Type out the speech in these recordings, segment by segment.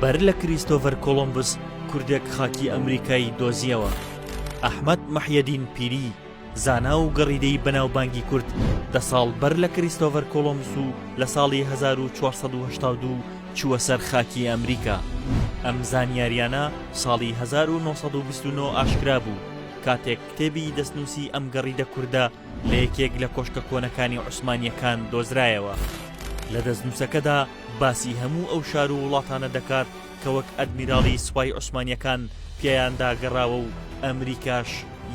بەر لە کریستۆڤەر کۆڵۆمبس کوردێک خاکی ئەمریکایی دۆزیەوە ئەحمد مححیدین پیری زانا و گەڕیدەی بەناوبانگی کورد دە ساڵ بەر لە کریستۆڤەر کۆڵۆمس و لە ساڵی 1992 چووە سەر خاکی ئەمریکا ئەم زانیاریانە ساڵی 1920 ئاشکرا بوو کاتێک کتێبی دەستنووسی ئەم گەڕیدە کووردە لە یەکێک لە کۆشکە کۆنەکانی عوسمانییەکان دۆزرایەوە لە دەستنووسەکەدا باسی هەموو ئەو شار و وڵاتانە دەکات کە وەک ئەدمیراڵی سوپای عوسمانییەکان پیایاندا گەڕاوە و ئەمریکاش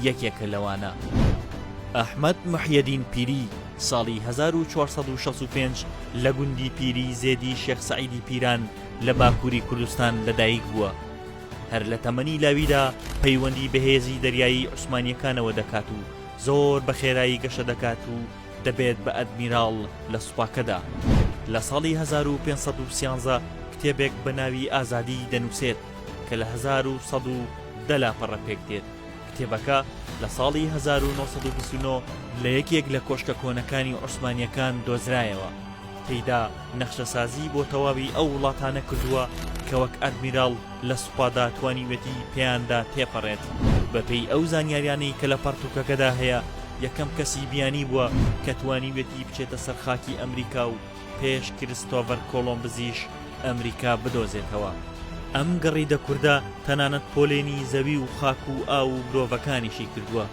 یەکێکە لەوانە. ئەحمەد محیەدین پیری ساڵی هەزار و چوار سەد و شەست و پێنج لە گوندی پیری زێدی شێخ سەعیدی پیران لە باکووری کوردستان لەدایک بووە. هەر لە تەمەنی لاویدا پەیوەندی بەهێزی دەریایی عوسمانییەکانەوە دەکات و زۆر بە خێرایی گەشە دەکات و دەبێت بە ئەدمیراڵ لە سوپاکەدا. لە ساڵی هەزار و پێنج سەد و سیانزە کتێبێک بە ناوی ئازادی دەنووسێت کە لە هەزار و سەد و دە لاپەڕە پێک دێت، کتێبەکە لە ساڵی هەزار و نۆ سەد و بیست و نۆ لە یەکێک لە کۆشکە کۆنەکانی عوسمانییەکان دۆزرایەوە، تێیدا نەخشەسازی بۆ تەواوی ئەو وڵاتانە کردووە کە وەک ئەدمیراڵ لە سوپادا توانیوێتی پێیاندا تێپەڕێت. بەپێی ئەو زانیاریانەی کە لە پەڕتووکەکەدا هەیە، یەکەم کەسی بیانی بووە کە توانیوێتی بچێتە سەر خاکی ئەمریکا و پێش کریستۆڤەر کۆڵۆمبزیش ئەمریکا بدۆزێتەوە. ئەم گڕیدە کوردە تەنانەت پۆلێنی زەوی و خاک و ئاو و مرۆڤەکانیشی کردووە،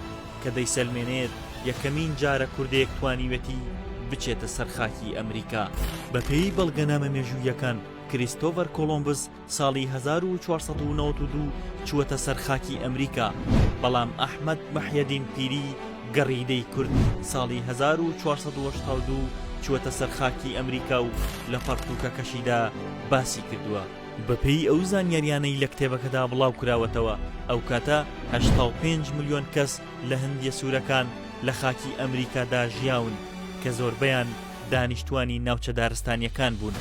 کە دەیسەلمێنێت یەکەمین جارە کوردێک توانیوێتی بچێتە سەر خاکی ئەمریکا. بەپێی بەڵگەنامە مێژووییەکان، کریستۆڤەر کۆڵۆمبز ساڵی هەزار و چوار سەد و نەوەد و دوو چووەتە سەر خاکی ئەمریکا، بەڵام ئەحمەد محیەدین پیری گەڕیدەی کورد ساڵی هەزار و چوار سەد و هەشتا و دوو چووەتە سەر خاکی ئەمریکا و لە پەڕتووکەکەشیدا باسی کردووە. بەپێی ئەو زانیاریانەی لە کتێبەکەدا بڵاو کراوەتەوە، ئەو کاتە هەشتا و پێنج ملیۆن کەس لە هندیە سوورەکان لە خاکی ئەمریکادا ژیاون کە زۆربەیان، دانیشتوانی ناوچە دارستانیەکان بوون.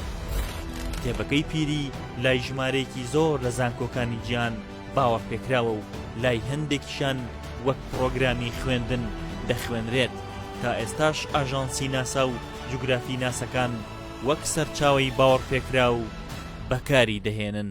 کتێبەکەی پیری لای ژمارەیەکی زۆر لە زانکۆکانی جیان باوەڕپێکراوە و لای هەندێکیشان وەک پرۆگرامی خوێندن دەخوێنرێت تا ئێستاش ئاژانسی ناسا و جوگرافی ناسەکان وەک سەرچاوی باوەڕپێکراو بەکاری دەهێنن.